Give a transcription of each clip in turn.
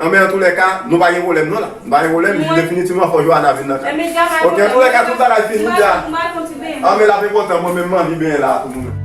Anben antoulèka nou pa gen pwoblèm non la Nou pa gen pwoblèm jis definitivman fò Joana vin nan kay Ok antoulèka tout bagay fin wi la Anben lap enpòtan mwen menm m anvi benyen la pou nou menm.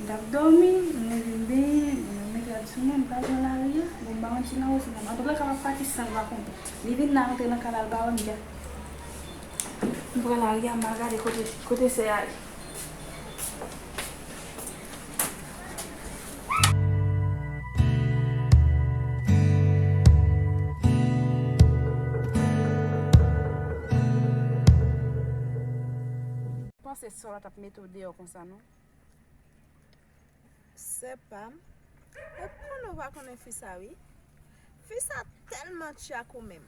Li ap dòmi, li leve li benyen, li nan met rad sou moun, li pa pran lari a, bon m ba yon ti nan wo ti nan ba. Anpil lòt ka pa pati san l pa konnen. Li vin la rantre nan kanal ba wèm dja. M pran lari a m al gade kote kote sè a ye. Mete w deyò konsa non. Sè pam Ou konnen ou pa konnen fi sa wi Fi sa tèlman tchyak ou menm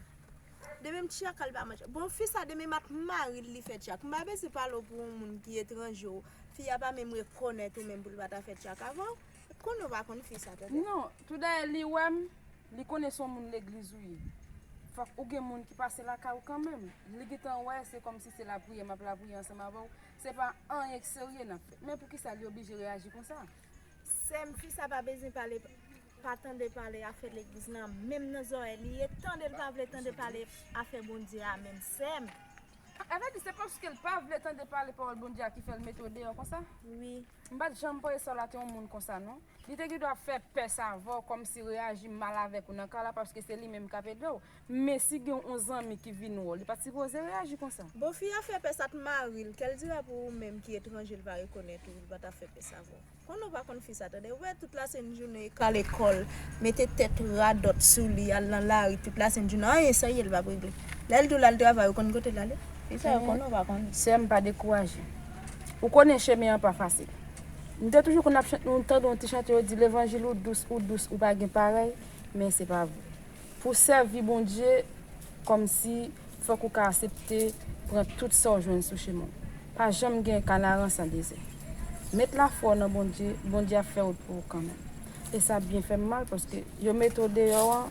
Demen m tchyak al pa man tchyak Bon fi sa demen m ak mari l li fè tchyak M pa bezwen pale w pou yon moun ki etranje w Fi a pa menm rekonèt ou menm pou l pa ta fè tchyak avè w Ou konnen ou pa konn fi sa tande Non Tout dayè li wè m Li konnen s on moun legliz ou ye Fòk ou gen moun ki pase lakay ou kanmenm Li gentan wè se kòmsi se lapriyè m ap lapriyè ansanm avè w Se pa anyen k serye nan fèt. Men poukisa li oblije reyaji konsa? Sèm fi sa pa bezwen pale pa tande pale afè legliz nan menm nan zòrèy li ye tandel pa vle tande pale afè Bondye a menm sèm. A vre di se paskel pa vle tande pale pawòl Bondye a ki fèl metew deyò konsa? Wi. M pat janm panse Sarla te yon moun konsa non. Li te gen dwa fè pès avè w kòm si reyaji mal avèk ou nan ka la paske se li menm k ap ede w. Men si gen yon zanmi ki vin wè w li pa t sipoze reyaji konsa. Bon fi a fè pès ak mari l kèl dira pou ou menm ki etranje l pa rekonèt ou li pa ta fè pès avè w. Konnen w pa konn fi sa tande ou wè tout la sent jounen e kale kò l mete tèt radòt sou li al nan lari tout la sent jounen anyen serye l pa p regle. Lè l di w l al travay ou konn kote l ale? Fi sa yo konnen w pa konn. Sè m pa dekouraje. Ou konnen chemen an pa fasil. Nou te toujou konn ap chante nou tande yon ti chante yo di levanjil ou dous ou dous ou pa gen parèy men se pa vre pou sèvi Bondye kòmsi fòk ou ka asepte pran tout sa w jwenn sou chemen w pa janm gen kanaran san dezè met lafwa w nan Bondye Bondye ap fè wout pou ou kanmenm e sa byen fè m mal paske yo mete w deyò an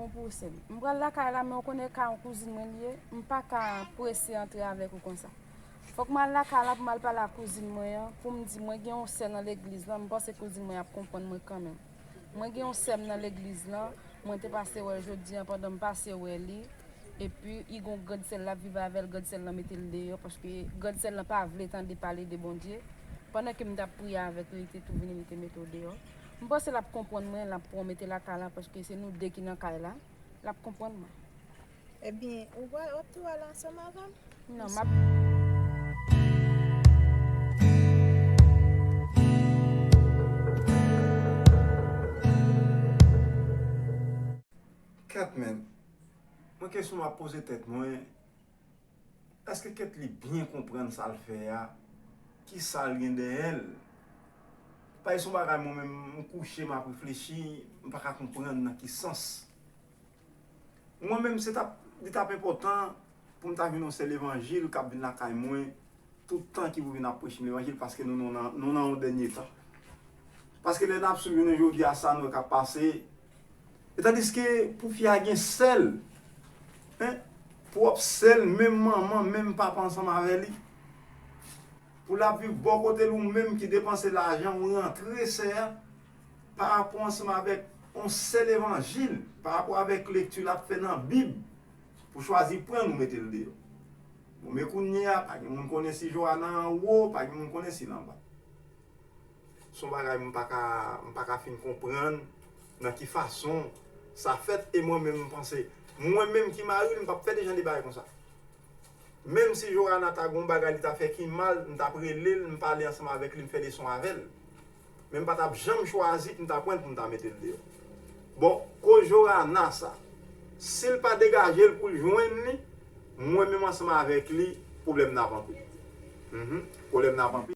Bon pouse m. M pral lakay la men ou konnen kay an kouzin mwen li ye, m pa ka prese antre avèk ou konsa. Fòk m al lakay la pou m al pale ak kouzin mwen an pou m di mwen gen yon sè nan legliz lan, m panse kouzin mwen ap konprann mwen kanmenm. Mwen gen yon sè m nan legliz lan, mwen te pase wè l jodi an pandan m pase wè li, epi i gon grand sè l lap viv avè l, grand sè l lan mete l deyò paske grand sè l lan pa vle tande pale de Bondye, pandan ke m tap priye avèk li li te tou vini li te mete w deyò. M panse lap konprann mwen lap pran w mete lakay la paske se nou 2 ki nan kay la lap konprann mwen. Ebyen ou wè wap tou al ansanm avèm? Non map. Kèt men, mwen kesyon map poze tèt mwen. Eske Ketli byen konprann sa l fè a? Ki sa l gen dèyè l? Pae s on bagay mwen menm m kouche m ap reflechi, m pa ka konprann nan ki sans. Mwen menm se t ap, li t ap enpòtan pou m ta vin on sè levanjil k ap vin lakay mwen tout tan ki pou vin ap preche m levanjil paske nou nan on dènye tan. Paske lè n ap swiv jounen jodi a sa nou wè k ap pase, E tandiske pou fi a gen sèl hein pwòp sèl menm manman menm papa ansanm avè li pou lap viv bò kotel ou menm ki depanse lajan ou rantre sè a pa rapò ansanm avèk on sèl evanjil pa rapò avèk lekti lap fè nan bib pou chwazi pran nou metel deyò bon men kounyea pa gen moun konnen si Joana an wo pa gen moun konnen sil anba. Son bagay m paka m paka fin konprann nan ki fason sa fèt e mwen menm m panse mwen menm ki maril m pap fè de jan de bagay konsa menm si Joana ta gon bagay li ta fè ki mal m tap relel m pale ansanm avèk li m fè leson avèl men m patap janm chwazi pou m ta pranl pou m ta metel deyò bon koz Joana sa sil pa degajel poul jwenn li Mwen menm ansanm avèk li pwoblèm nan ap anpil humm pwoblèm nan ap anpil.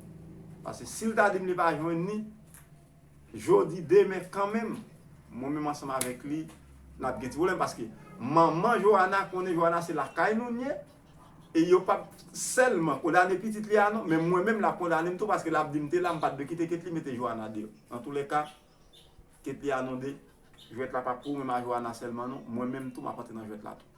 Paske si l ta di m li pa jwenn li, jodi, demen kanmenm, mwen menm ansanm avèk li, n ap gen ti pwoblèm. Paske manman Joana konnen Joana se lakay nou l ye, e yo pa p sèlman kondane pitit li a non, men mwen menm l ap kondane m tou paske l ap di m te la, m pa t dwe kite Ketly mete Joana deyò. Antoulèka, Ketly a non de, jwèt la pa pou mwen ak Joana sèlman non, mwen menm tou m ap antre nan jwèt la tou.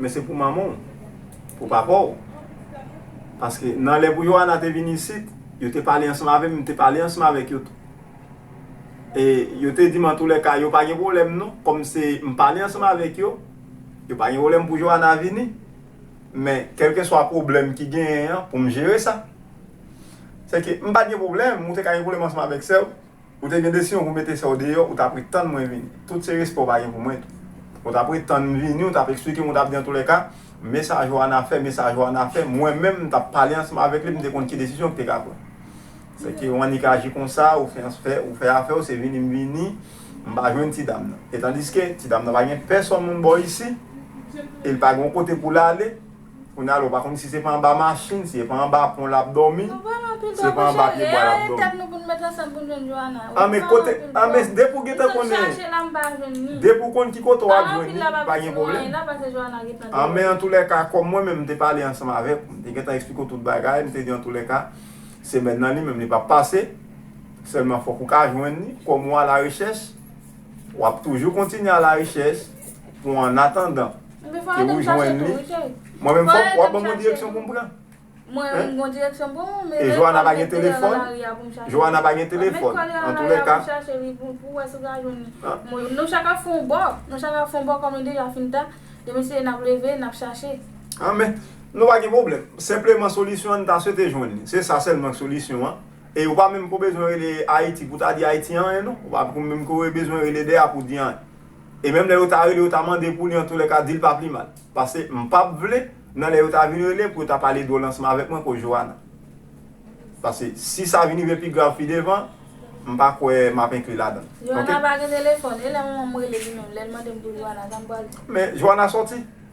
men se pou manman w, pou papa w. Paske nan lè pou Yoana te vin isit, yo te pale ansanm avè m, m te pale ansanm avèk yo tou. E yo te di m antoulèka yo pa gen pwoblèm non, kòm se m pale ansanm avèk yo, yo pa gen pwoblèm pou Yoana vini. Men, kèlkeswa pwoblèm ki genyen an, pou m jere sa. Sèke m pa t gen pwoblèm, ou te ka gen pwoblèm ansanm avèk sè w, Ou te gen desizyon pou mete sè w deyò, ou t ap ret tann mwen vini. Tout se respè w pa gen pou mwen tou. Ou t ap ret tann m vini, ou t ap eksplike m, ou t ap di antoulèka, men sa Joana fè, men sa Joana fè. Mwen menm, m t ap pale ansanm avèk li, m te konn ki desizyon ki te ka pran. Sèke ou annik aji konsa, ou fè anfè, ou fè afè w, se vini m vini, m pa jwenn ti dam nan. Etandiske, ti dam nan pa gen pèsonn moun bò isi, e li pa gen yon kote pou l ale. Kounye a la ou pa konn si se pa anba machin, si se pa anba pon l ap dòmi, si se pa anba pye bwa l ap dòmi. An men kote, an men depi w gentan konnen, depi w konn ki kote w ap jwenn li, pa gen pwoblèm. An men antoulèka, kòm mwen menm m te pale ansanm avè w, m te gentan esplike w tout bagay, m te di antoulèka, semèn nan li menm li p ap pase, sèlman fòk ou ka jwenn li, kòm ou alarechèch, w ap toujou kontinye alarechèch. pou an atandan ke ou jwenn li, mwen menm fòk wap ban mwen direksyon pou m pran. E Joana pa gen telefòn, Joana pa gen telefòn, an tou lè ka. An men, nou pa gen pwoblèm, senpleman solisyon an n ta swete jwenn li, se sa sèlman k solisyon an. E ou pa menm ko bezwen rele Ayiti pou ta di Ayiti anyen non, ou pa menm ko bezwen rele de a pou di anyen. E menm lè yo ta rele yo ta mande pou li antoulèka dil pa pli mal. Pase mpap vle nan lè yo ta vin rele pou yo ta pale dwo lansman avèk mwen ko Joana. Pase si sa vin rive pi grav pi devan mpa kwè map enkli ladann. Ok. Joana pa gen telefòn e lè manmanm rele li menm lèl mandem pou Joana sam pral di. Men Joana sòti